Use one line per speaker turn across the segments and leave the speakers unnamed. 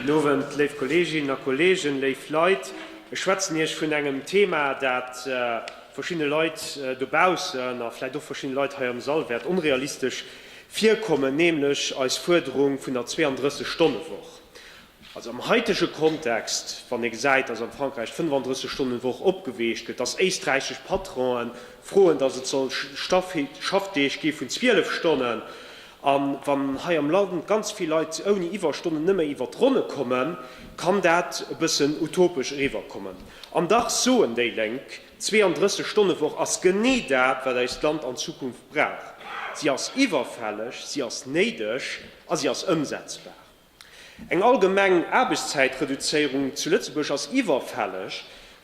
Gudden Owend, léif Kolleeginnen a Kolleegen, léif Leit. Ech schwätzen Iech vun engem Thema, dat verschiddene Leit dobaussen a vläicht och verschiddene Leit hei am Sall wäert onrealistesch virkommen, nämlech eis Fuerderung vun der 32 Stonne Woch. Also am heitege Kontext, wann ee gesäit, dass am Frankräich d'Fënnofandrësseg Stonnen Woch opgeweecht gëtt, dass éisträichesch Patronen froen, dass et soll Schaffdeeg gi vun 12 Stonnen, A wann hei am Land ganz vill Leit ouni Iwwerstonnen nëmme iwwer d'Ronne kommen, kann dat e bëssen utopesch eriwwerkommen. An dach soen déi Lénk, d'Zweeanddrësseg Stonne Woch ass genee dat, wat eist Land an Zukunft brauch. Si ass iwwerfälleg, si ass néideg a si ass ëmsetzbar. Eng allgemeng Aarbechtszäitreduzéierung zu Lëtzebuerg ass iwwerfälleg,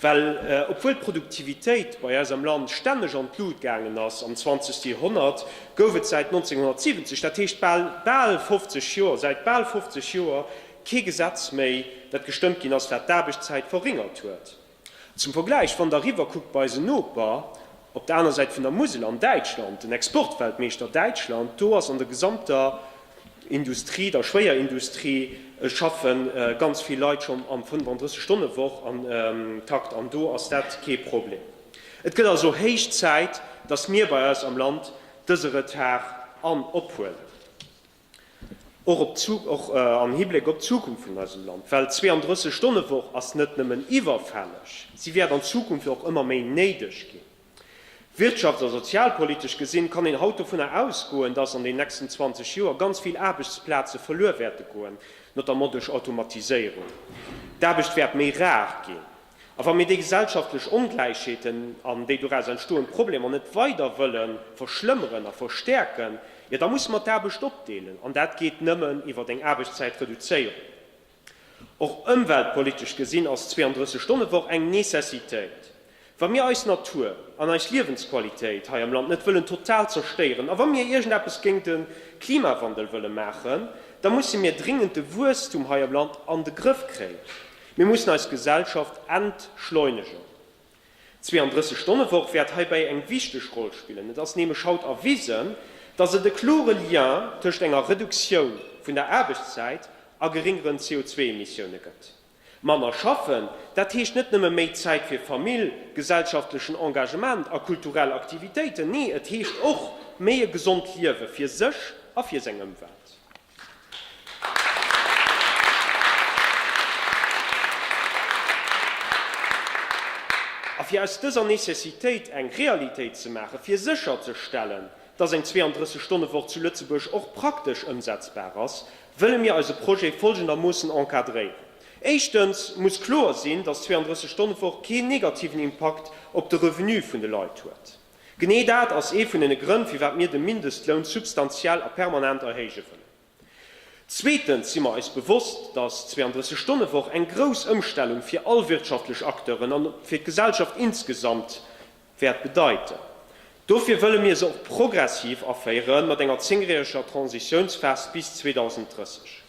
well obwuel d'Produktivitéit bei eis am Land stänneg an d'Lut gaangen ass, am zwanzegste Joerhonnert gouf et säit 1970, dat heescht bal bal 50 Joer, säit bal 50 Joer kee Gesetz méi, dat gestëmmt ginn ass, wat d'Aarbechtszäit verringert huet. Zum Vergläich, Wann der eriwwer kuckt bei eisen Noper op der aner Säit vun der Musel, an Däitschland, den Exportweltmeeschter Däitschland, do ass an der gesamter Industrie, der Schwéierindustrie, schaffe ganz vill Leit schonn am 35 Stonne Woch Takt, an do ass dat kee Problem. Et gëtt also héich Zäit, datt mir bei eis am Land dëse Retard an ophuelen. Och am Hibléck op d'Zukunft vun eisem Land, well d'Zweeëndrësseg-Stonne-Woch ass net nëmmen iwwerfälleg, si wäert an Zukunft och ëmmer méi néideg ginn. Wirtschafts a sozialpolitesch gesinn, kann een haut dovunner ausgoen, dass an den nächsten 20 Joer ganz vill Aarbechtsplaze verluer wäerte goen, notamment duerch Automatiséierung. D'Aarbecht wäert méi rar ginn. A wa mir déi gesellschaftlech Ongläichheeten an déi doraus entstoend Problemer net weider wëlle verschlëmmeren a verstäerken, jo da musse mer d'Aarbecht opdeelen. An dat geet nëmmen iwwer eng Aarbechtszäitreduzéierung. Och ëmweltpolitesch gesinn ass d'Zweeanddrësseg Stonne Woch eng Necessitéit. Wa mir eis Natur an eis Liewensqualitéit hei am Land net wëllen total zerstéieren a wa mir iergendeppes géint de Klimawandel wëlle maachen, da musse mir dringend de Wuesstum hei am Land an de Grëff kréien. Mir mussen eis Gesellschaft entschleunegen. D'Zweeënddrësseg-Stonne-Woch wäert heibäi eng wichteg Roll spillen. Et ass nämlech haut erwisen, dass et e klore Lien tëscht enger Reduktioun vun der Aarbechtszäit a geringeren CO2-Emissioune gëtt. Manner schaffen, dat heescht net nëmme méi Zäit fir Famill, gesellschaftlechen Engagement a kulturell Aktivitéiten. Nee, et heescht och méi e gesond Liewe fir sech a fir seng Ëmwelt. A fir aus dëser Necessitéit eng Realitéit ze maachen, fir sécherzestellen, dass eng 32 Stonne Woch zu Lëtzebuerg och praktesch ëmsetzbar ass, wëlle mir eise Projet folgendermoossen encadréieren, Éischtens muss kloer sinn, dass d'Zweiunddrësseg Stonne Woch keen negativen Impakt op de Revenu vun de Leit huet. Genee dat ass ee vun den Grënn, firwat mir de Mindestloun substantiell a permanent erhéije wëllen. Zweetens si mer eis bewosst, dass d'Zweianddrësseg-Stonne-Woch eng grouss Ëmstellung fir all wirtschaftlech Acteuren an fir d'Gesellschaft insgesamt wäert bedeiten. Dofir wëlle mir se och progressiv aféieren, mat enger zéngjäreger Transitiounsphas bis 2030.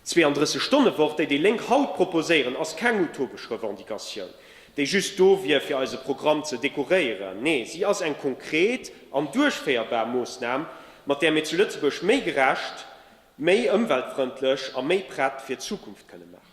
D'Zweeanddrësseg Stonne Woch, déi déi Lénk haut proposéieren, ass keng utopesch Revendicatioun, déi just do wier fir eise Programm ze dekoréieren. Nee, si ass eng konkret an duerchféierbar Moossnam, mat där mir zu Lëtzebuerg méi gerecht, méi ëmweltfrëndlech a méi prett fir d'Zukunft kënne maachen.